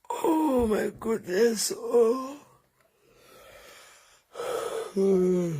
Oh my goodness. Oh. Hmm.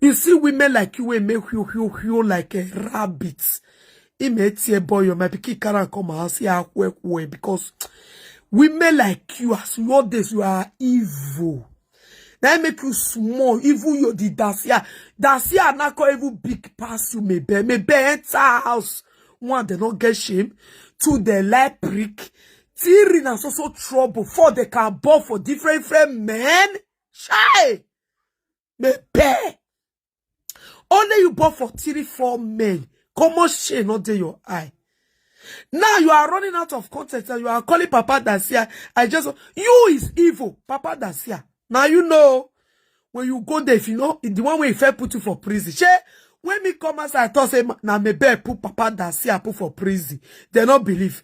You see women like you wey make whew whew whew like a rabbit. He may tear boy your my pikin carry and come and say ah kwe kwe because women like you as you all this you are evil. Now I make you small, even you the dasia. Dasia na call even big pass you maybe. Maybe enter house. One, they not get shame. Two, they like prick. Three, na so so trouble. Four, they can ball for different different men. Shy! Me bear. Only you bought for three, four men. Come on, shame not there your eye. Now you are running out of content and you are calling Papa Dacia. I just you is evil, Papa Dacia. Now you know when you go there, if you know the one way if I put you for prison. She when me come as I thought say now me bear put Papa Dacia put for prison. They not believe.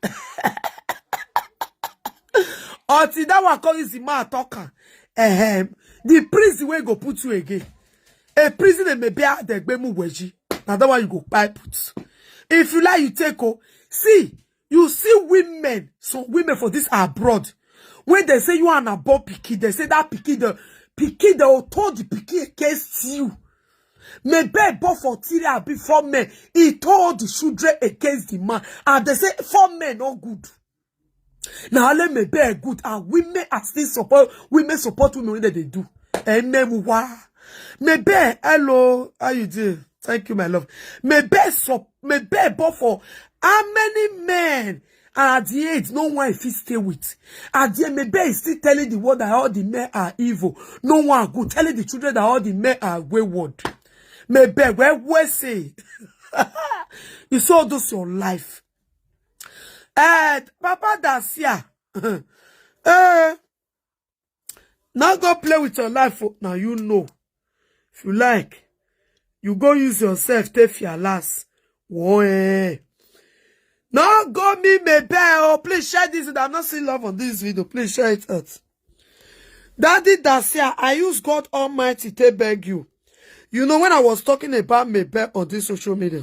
until that one come use the mouth talk am ehem the prison wey go put you again a prison emebe adegbemu weji na that one you go kpai put if you like you take o see you see women some women for this abroad wey dey say you and abo pikin dey say that pikin dey pikin dey oto the pikin against you mebe born for three abi four men e told the children against the man and dey say four men no good. na only me be good and women are still support women support women wey dem dey do emewa mebe hello how you doing thank you my love mebe so mebe but for how many men and at the age no one fit stay with at the end mebe is still telling the world that all the men are evil no one good telling the children that all the men are wayward mebe where where say you saw this your life Eh, Papa Dacia. eh, now go play with your life. Oh. Now you know. If you like, you go use yourself, take your last. Whoa, eh. Now go me, me bell. Oh, please share this. I'm not seeing love on this video. Please share it out. Daddy Dacia, I use God Almighty to beg you. You know, when I was talking about Mabel on this social media,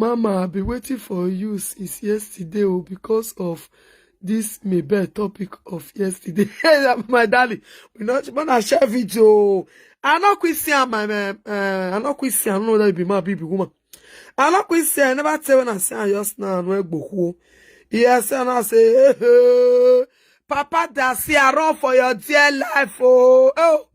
Mama, I be waiting for you since yesterday oh, because of this maybe topic of yesterday. my darling, we not when I share video. Oh. I not quit see my uh, uh, I not quit see. I don't know that it be my baby woman. I not quit see. I never tell when I say I just now and where go. Yes, and I say, hey, hey. Papa Dasi, I run for your dear life. Oh, oh.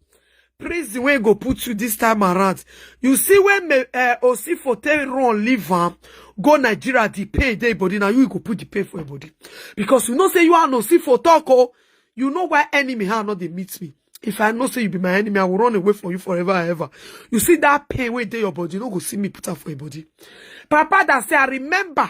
prison wey go put you this time around you see when me uh, osifo take run leave am go nigeria the pain dey body na you go put the pain for your body because you know say you and osifo talk o you know why enemy hand no dey meet me if i know say you be my enemy i will run away from you forever and ever you see that pain wey dey your body you no go see me put am for your body papa that say i remember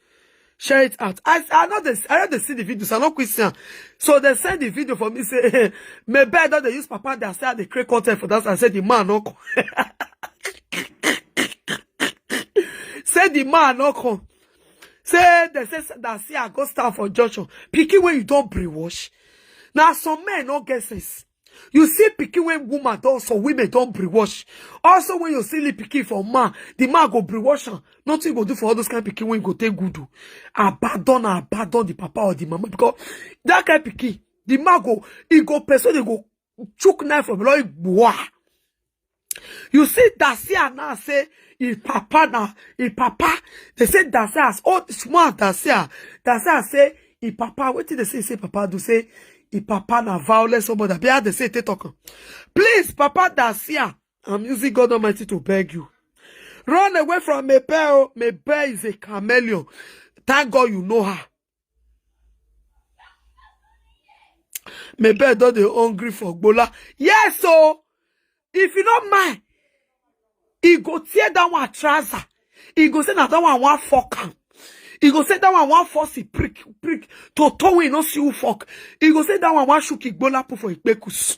share it out. I I know this. I know they see the video, so I no quick see am. So they send the video for me say, "Me bed don dey use papa dey say I dey create content for that." I said the man no come. say the man no come. Say they say that say I go stand for junction. Pikin when you don brainwash. Now some men no get sense. You see pikin when woman don some women don brainwash. Also when you see the pikin for man, the man go brainwash am. Nothing you go do for all those kind of pikin when you go take good do. Abandon and abandon the papa or the mama because that kind of pikin, the man go, he go person, he go chook knife from law, he go, wah. You see, Dacia now say his papa now, his papa, they say Dacia as oh small Dacia. Dacia say his papa, what did they say? Say papa do say his papa na violent somebody. Be how they say they talk. am. Please, Papa Dacia, I'm using God Almighty to beg you. Run away from Mabel. Mabel is a chameleon. Thank God you know her. my bed don dey hungry for gbola yes o if you no mind e go tear that one trouser e go say na that one wan fuck am e go say that one wan force e prick prick to toe wey e no see who fuck e go say that one wan shook e gbola put for e kpekus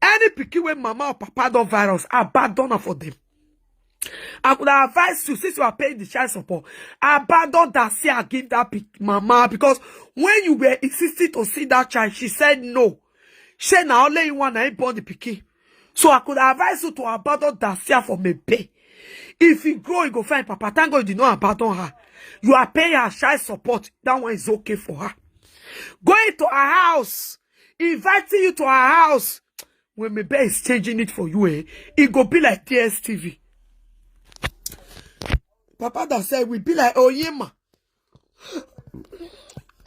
Any pikin wey mama or papa don virus, abandon am for them. I could advise you since you are paying the child support, abandon that see and give that pic- mama because when you were insisting to see that child, she said no. She na only you one na born the pikin. So I could advise you to abandon that see for me pay. If you grow, you go find papa. Thank God you did not abandon her. You are paying her child support. That one is okay for her. Going to her house inviting you to her house when my bed is changing it for you eh it go be like tstv papa that said we be like oyema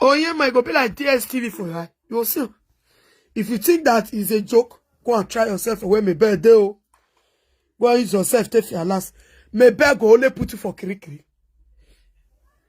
oyema it go be like tstv for you you will see if you think that is a joke go and try yourself for where my bed dey o go and use yourself take your last my bed go only put you for kirikiri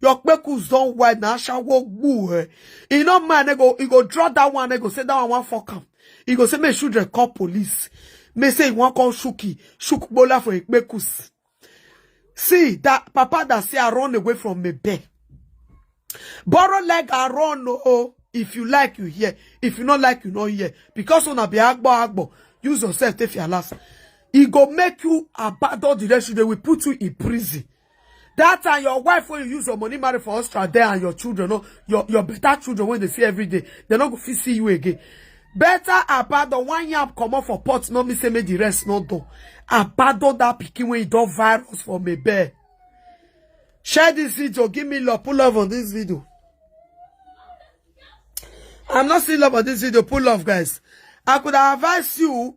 Your kpekus don wide na ashawo gbu eh. E no mind, e go, e go draw that one, e go say that one wan fuck am. E go say make children call police. May say e wan call Shuki, Shuk Bola for Ekpekus. See, that papa that say I run away from me bed. Borrow leg I run, oh. If you like, you hear. If you not like, you not hear. Because on a be agbo agbo, use yourself, take your last. It go make you abandon the rest. They will put you in prison. that time your wife when you use your money marry for Australia there and your children no your your better children when they see every day they no go fit see you again better abandon one yam comot for pot no mean say make the rest no do abandon that pikin when you don virus for me bear share this video give me love pull love on this video i'm not seeing love on this video pull love guys i could advise you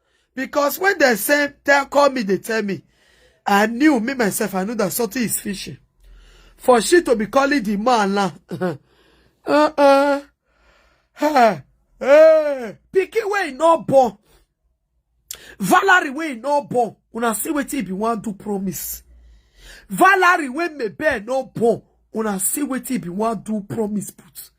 Because when they send, they call me, they tell me, I knew me myself, I knew that something is fishing. For she to be calling the man now. uh-uh. Hey, hey. Pikin wey no born. Valerie wey no born. Una see wetin e be wan do promise. Valerie wey maybe no born. Una see wetin e be wan do promise put.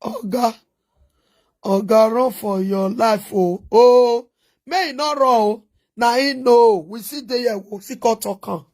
Oga, Oga, run for your life, oh, oh, may e not run, oh. Now he know, we see the year, we see cut or come.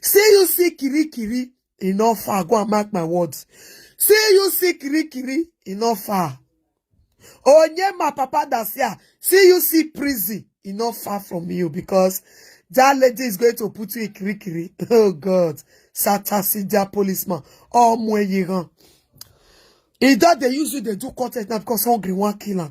Say you see kiri kiri, e no far. Go and mark my words. Say you see kiri kiri, e no far. Onye my papa that's here. See you see prison, e no far from you because that lady is going to put you in kiri kiri. Oh God, Satasija policeman, all Mweyiran. He that they use you, they do content now because hungry one killer.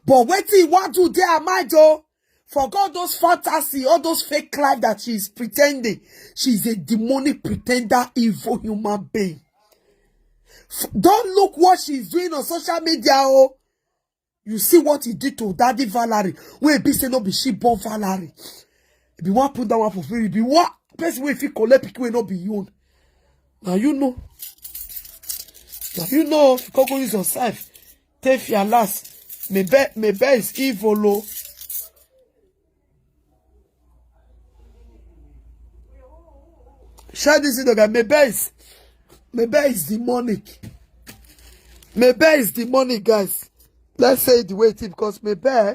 But wait till what do they are mind oh. Forget all those fantasy, all those fake life that she is pretending. She is a demonic pretender, evil human being. Don't look what she is doing on social media, oh. You see what he did to Daddy Valerie. Wey be say no be she born Valerie. If you want put that one for free, if you want person wey fit collect pikin wey no be you own. Now you know. Now you know if you go use yourself. Tefi alas, me be me be is evil o. Share this video, guys. Me be is me be is demonic. Me be is demonic, guys. Let's say it the way it is because me be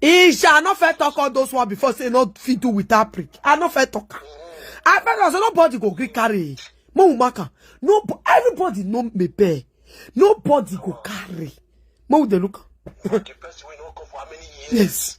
Isha, I no fit talk all those one before say no fit do without prick. I no fit talk. I bet I say nobody go gree carry. Mo we make am. No, everybody know me bear. Nobody go carry. Mo we dey look. am. Yes.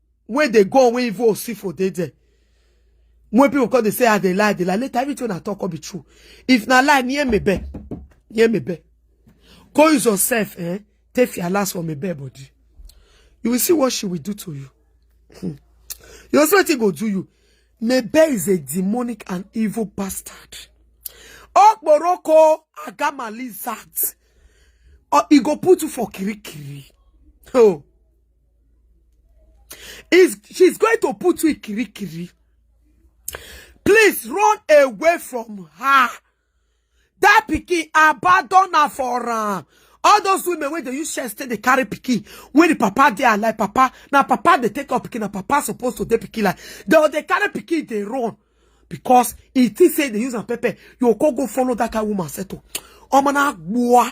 wey dey go wey even osifo dey there when people come dey say i dey lie i dey lie later everything una talk come be true if na lie near me bed near me bed go use yourself eh take your last for me bed body you will see what she will do to you Hmm. you will see wetin go do you mebe is a demonic and evil bastard okporoko agama lizard or e go put you for kirikiri oh Is she's going to put you in kirikiri. Please run away from her. That pikin abandon her for am. All those women wey dey use chest take dey carry pikin when the papa dey alive, papa na papa dey take up pikin, na papa suppose to dey pikin like they dey carry pikin dey run because e think say dey use am pepper. You go go follow that kind woman settle. Omo na gboa.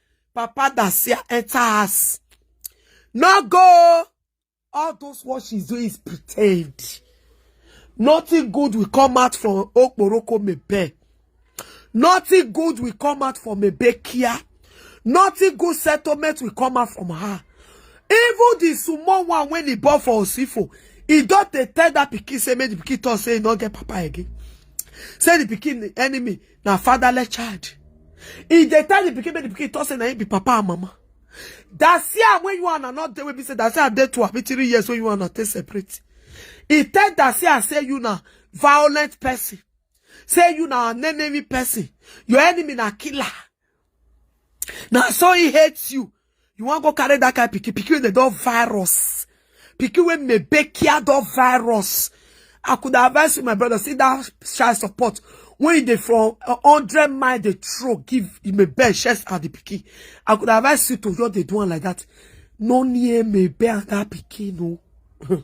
Papa Dasia enter house. No go. All those what she's doing is pretend. Nothing good will come out from Okporoko Mebe. Nothing good will come out from Mebekia. Nothing good settlement will come out from her. Even the small one when he bought for Osifo, he don't tell that pikin say make the pikin talk say he not get papa again. Say the pikin enemy na fatherless child e dey tell the pikin make the pikin talk say na him be papa and mama that siam wey you and not dey wey be say that siam dey two abi three years wey you and take separate e tell that siam say you na violent person say you na an enemy person your enemy na killer na so he hates you you wan go carry that kind pikin pikin wey dey don virus pikin wey mebekia don virus i could advise you my brother see that child support when you dey from hundred mile dey throw give mebe chest and the pikin i could advise you to just dey do one like that no near mebe and that pikin no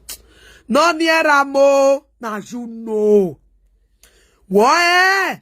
no near am o na you know wọ́n ẹ́.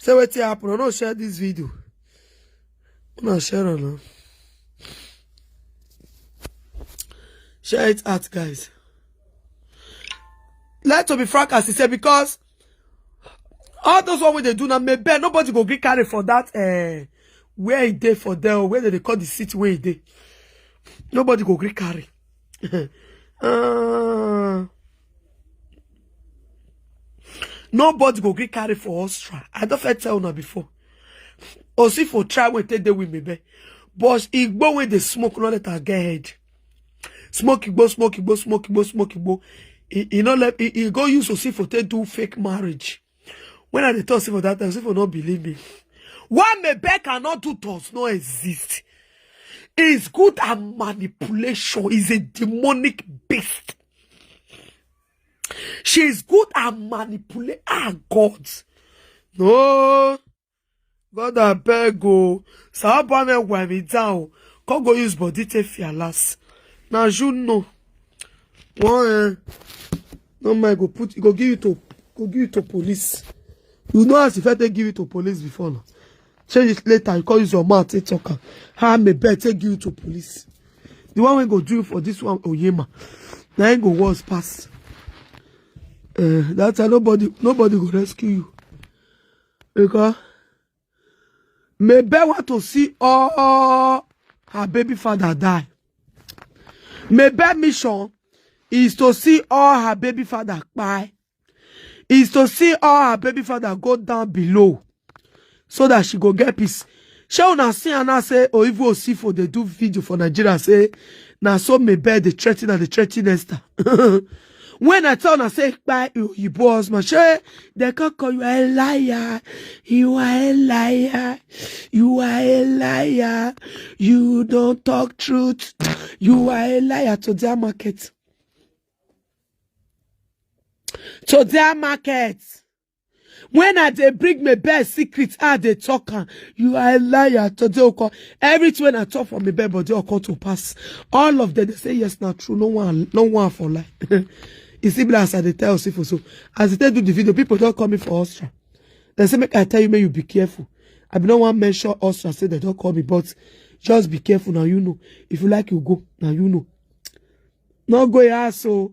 say wetin happen i no share this video una share am now share it out guys let to be frank as he say because all those one wey dey do na maybe nobody go gree carry for that uh, where e dey for there or where dem dey call the city wey e dey nobody go gree carry uh, nobody go gree carry for us try i don fit tell una before osifo try wey take dey with me be but igbo wey dey smoke no let am get head smoke igbo smoke igbo smoke igbo smoke igbo e e no let e e go use osifo take do fake marriage when i dey talk say for that time say for no believe me why mebel cannot do does not exist is good at manipulation is a demonic beast she is good at manipulate ah god no God abeg o, Sahaba na wipe me down, come go use body take fear last. Na you know. One eh, no mind go put, go give you to, go give you to police. You know as if I take give you to police before now. Change it later, you come use your mouth take talk am. How I may bet take give you to police. The one wey go do for this one, Oyema, na him go worse pass. Uh, that time nobody, nobody go rescue you. Because Mebe want to see all her baby father die. Mebe mission is to see all her baby father die. Is to see all her baby father go down below so that she go get peace. She una see and I say, oh, if we see for they do video for Nigeria, say, now so Mebe, they threaten and they threaten Esther. When I tell una say kpai oyibo husband, shey dem come call you a liar, you are a liar, you are a liar, you don't talk truth, you are a liar to their market. To their market. when i dey bring my bed secret i dey talk am you are a liar today oko everything when i talk for my bed body oko to pass all of them dey say yes na true no one no one for lie e still be like as i dey tell osifo so as i take do the video people don call me for ostra dem say make i tell you make you be careful i bin no wan mention ostra say dem don call me but just be careful na you know if you like you go na you know no go your house o.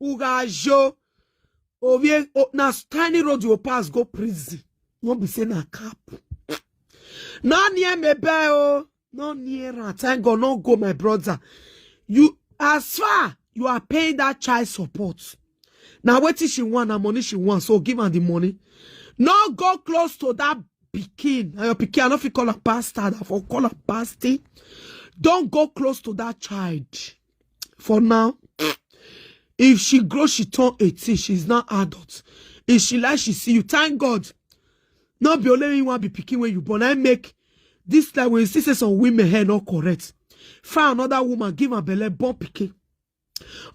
ugajo ovie o- na tiny road you pass go prison no be say na cap no near me bell o no near am thank god no go my brother you as far you are paying that child support na wetin she want na money she want so give am the money no go close to that pikin na your pikin i no fit call am bastard i for call am bastard don go close to that child for now if she grow she turn 18 she's now adult if she like she see you thank god no be only you wan be pikin wey you born i make this time when you see say some women hair no correct find another woman give am belle born pikin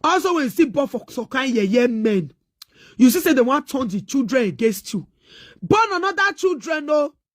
also when you see born for some kind yeye men you see say dem wan turn the children against you born another children o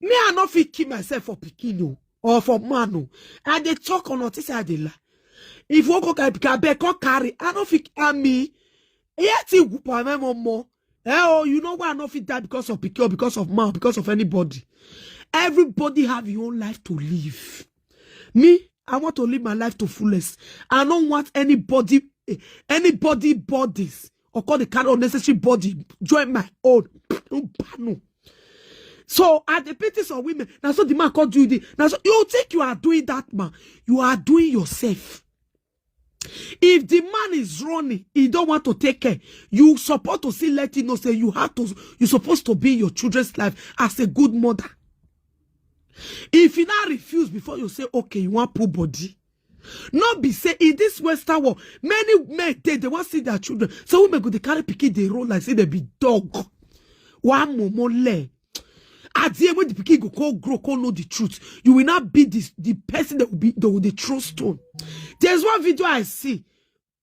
me i no fit kill myself for pikin o or for man o i dey talk on notice say i dey lie if you wan go carry pikin abeg come carry i no fit harm me eya ti wu pa me mo mo eh oh you know why i no fit die because of pikin or because of man or because of anybody everybody have your own life to live me i want to live my life to fullest i no want anybody eh, anybody bodies or call the carry unnecessary body join my own so at the pity some women na so the man come do the na so you think you are doing that man you are doing yourself if the man is running he don't want to take care you support to see let him know say you have to you supposed to be in your children's life as a good mother if you now refuse before you say okay you want poor body no be say in this western world many men dey dey wan see their children so women go dey carry pikin dey roll like say dem be dog wa momo le at the end when the pikin go come grow come know the truth you will now be the the person that will be that will dey throw stone there's one video i see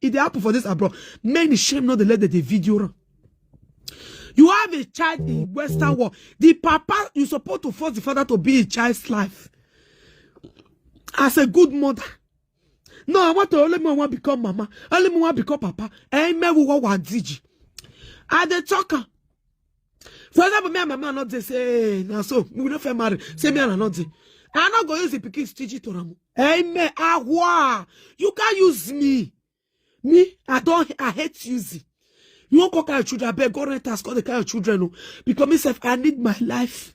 e dey happen for this abroad many shame no dey let them dey video am you have a child in western world the papa you suppose to force the father to be in child's life as a good mother no i want to only me wan become mama only me wan become papa eh me wo wa diji i dey talk am for example me and my man not dey say na so we no fit marry say me and i not dey i no go use the pikin stitch to am amen ahwa you can use me me i don i hate using you wan come carry your children abeg go rent house come dey carry your children o because me sef i need my life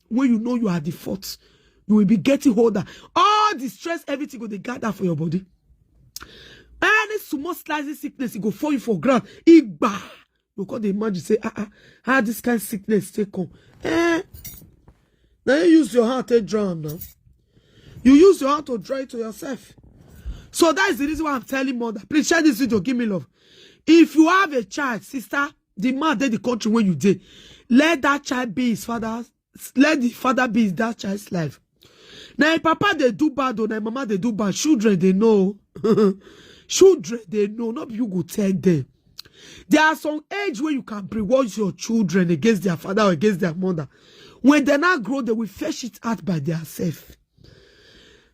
wey you know you are the fault you will be getting older all the stress everything go dey gather for your body any small slightly sickness e go fall you for ground igba you come dey imagine say ah ah how this kind sickness take come eh na you use your hand take draw am now you use your hand to draw it to yourself so that is the reason why i'm telling mother please share this video give me love if you have a child sister the man dey the country wey you dey let that child be his father let the father be that child's life na him papa dey do bad o na him mama dey do bad children dey know o children dey know no be you go tell them there are some age wey you can brainwash your children against their father or against their mother when they now grow they will fetch it out by their self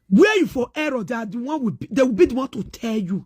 where you for error they are the one will be, they will be the one to tell you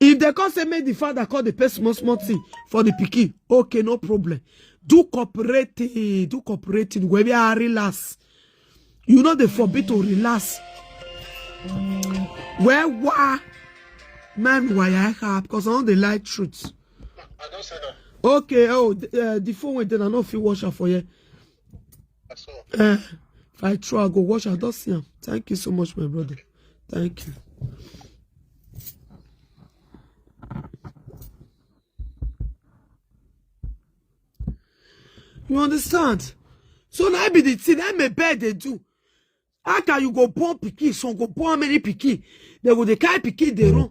if dem come say make the father come dey pay small small thing for the pikin okay no problem do cooperating do cooperating wey be ah relax you no dey forbid to relax well wah man waya ha because i no dey like truth I don't say that. okay oh the, uh, the phone wey dey na no fit wash am for here That's all. Eh, if I try, I go watch. I don't see him. Thank you so much, my brother. Thank you. You understand? So now I be the thing I may bed they do. How can you go born pikin? Some go born many pikin. They go they carry pikin they run.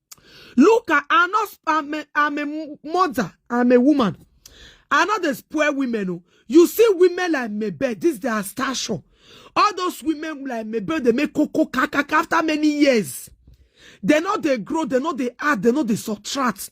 look at i'm not i'm a, I'm a mother i'm a woman i know dey spoil women o you see women like mebe this their stature all those women like mebe dey make koko kakaka after many years they no dey grow they no dey add they no dey subtract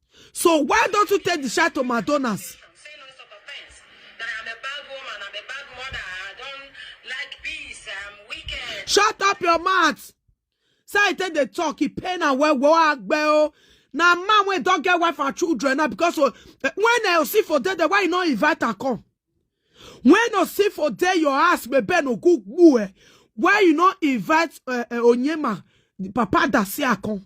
So why don't you take the shot to Madonna's? Shut up your mouth. Say I take the talk, he pain and well, well, well. Now man we don't get wife and children now because uh, when I see for dead, why you not invite her come? When I see for dead, your ass may be no good boy. Eh? Why you not invite uh, uh, Onyema, Papa Dasia come?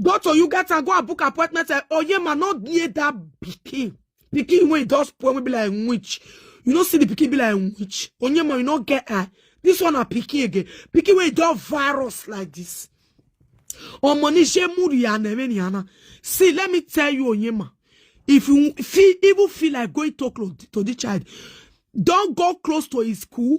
go to Uganda, go and book appointment. Say, oh yeah, man, not near that pikin. Pikin when it does poor, we be like witch. You don't see the pikin be like witch. Oh yeah, man, you not get eye. This one a pikin again. Pikin when it does virus like this. Oh money she mood ya na See, let me tell you, Onyema. If you feel even feel like going to close to the child, don't go close to his school.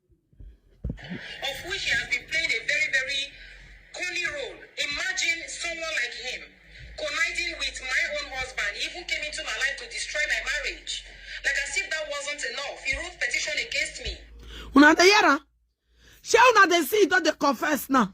of which he has been playing a very, very corny role. Imagine someone like him conniving with my own husband. He even came into my life to destroy my marriage. Like as if that wasn't enough. He wrote petition against me. Una dey hear am? Shey una dey see e don dey confess now?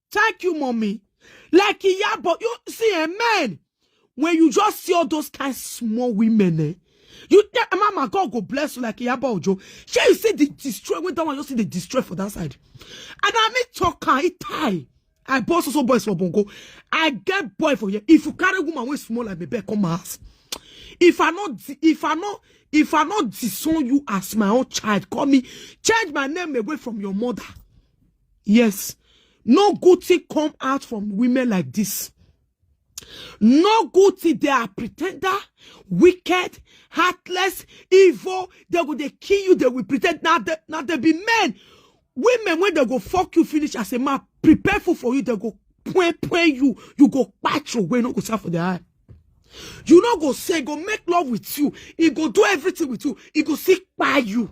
Thank you, mommy. Like Iyabo, you see, a man, when you just see all those kind small women, eh? You tell eh, Mama, God go bless you like Iyabo Ojo. Shall you see the destroy when that one you see the destroy for that side? And I mean talker, it tie. I boss also boys for Bongo. I get boy for you. If you carry woman with small like baby, come ask. If I not, if I not, if I not disown you as my own child, call me, change my name away from your mother. Yes. No good thing come out from women like this. No good thing. They are pretender, wicked, heartless, evil. They will they kill you. They will pretend. Now they, now they be men. Women, when they go fuck you, finish as a man, prepare for for you. They go point point you. You go patch your way. No go serve for the eye. You no go say, go make love with you. He go do everything with you. He go see by you.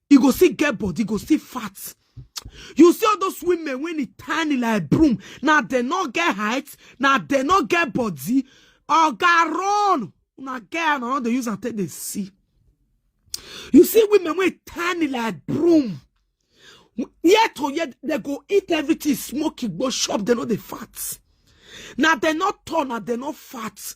e go still get body go still fat you see all those women when e tiny like broom na dem no get height na dem no get body oga run una get and una dey use am take dey see you see women wey tiny like broom year to year dem go eat everything smoke igbo chop dem no dey fat na dem no tall na dem no fat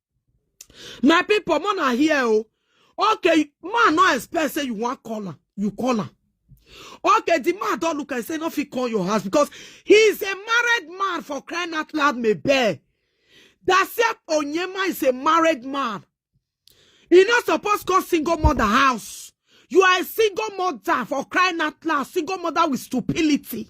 my people more na here o okay man no expect say you wan call am you call am okay the man don look and say no fit call your house because he is a married man for crying out loud mebel dasep onyema is a married man he no suppose call single mother house you are a single mother for crying out loud single mother with stupidity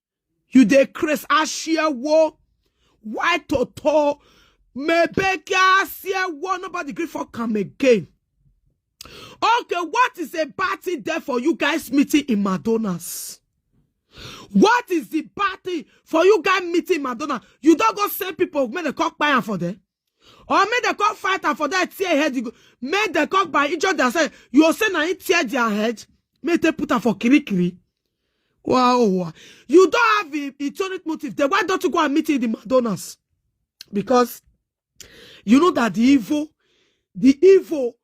You dey craze ashewo. Why toto? Mebeke ashewo. Nobody gree for come again. Okay, what is a bad thing there for you guys meeting in Madonna's? What is the bad thing for you guys meeting in Madonna? You don't go send people when they come buy am for them. or make dem come fight am for that tear head you go make dem come by injure themselves you go say na him tear their head make dem put am for kirikiri wow wow. you don have a etonic motive then why don't you go and meet in the madonnas because you know that the evil the evil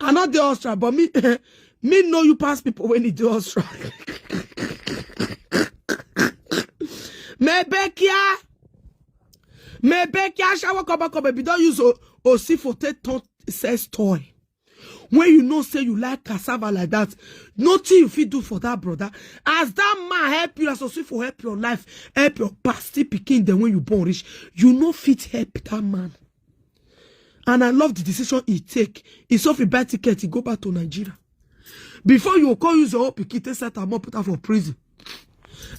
I not the Austria, but me, me know you pass people when you do Austria. Mebekia, Mebekia, shower cover cover. If you don't use Osi for take ton- sex toy, when you know say you like cassava like that, nothing you fit do for that brother. As that man help you, as Osi for help your life, help your past still pikin. Then when you born rich, you no fit help that man. and i love the decision he take he suffer buy ticket he go back to nigeria before you call use your own pikin take set am up put am for prison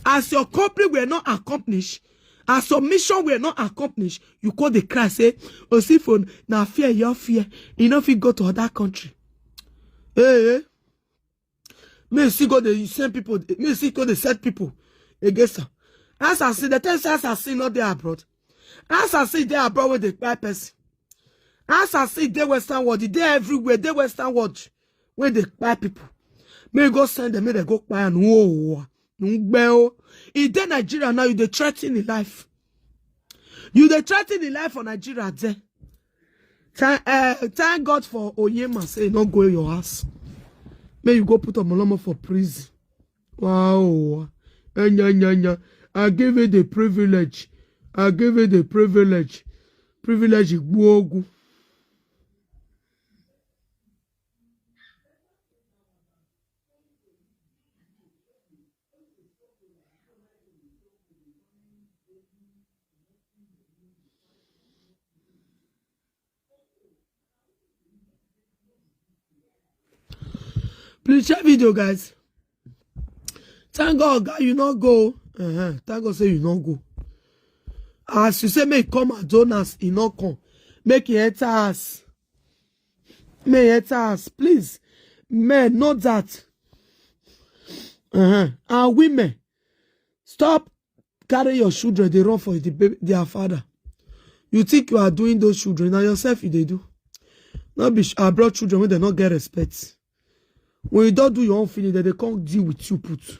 as your company were not accomplished as your mission were not accomplished you call the cry say osifo na fear your fear e no fit go to other country hey, hey. me you still go dey send people me you still go dey set people against am assassin dem tell you say assassin no dey abroad assassin dey abroad wey dey kpai person assassin dey western world e dey everywhere dey western world wey dey kpai people me you go send dem make dem go kpai am ooo ngbe o e dey nigeria now you dey threaten im life you dey threaten im life for nigeria there Thank, uh, thank God for Oyema say no go your house. May you go put Omolomo for prison. Wow. Anya, anya, anya. I give you the privilege. I give you the privilege. Privilege Igbogu. Please share video, guys. Thank God, God, you not go. Uh-huh. Thank God, say you not go. As you say, make come and join us, he not come. Make he enter us. may enter house please men know that uh-huh. and women stop carry your children dey run for the baby, their father you think you are doing those children na yourself you dey do no be abroad children wey dem no get respect when you don do your own finish dem dey come deal with you put.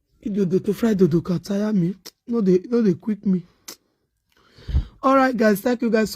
dodo to fry dodo can tire me no dey no dey quick me all right guys thank you guys so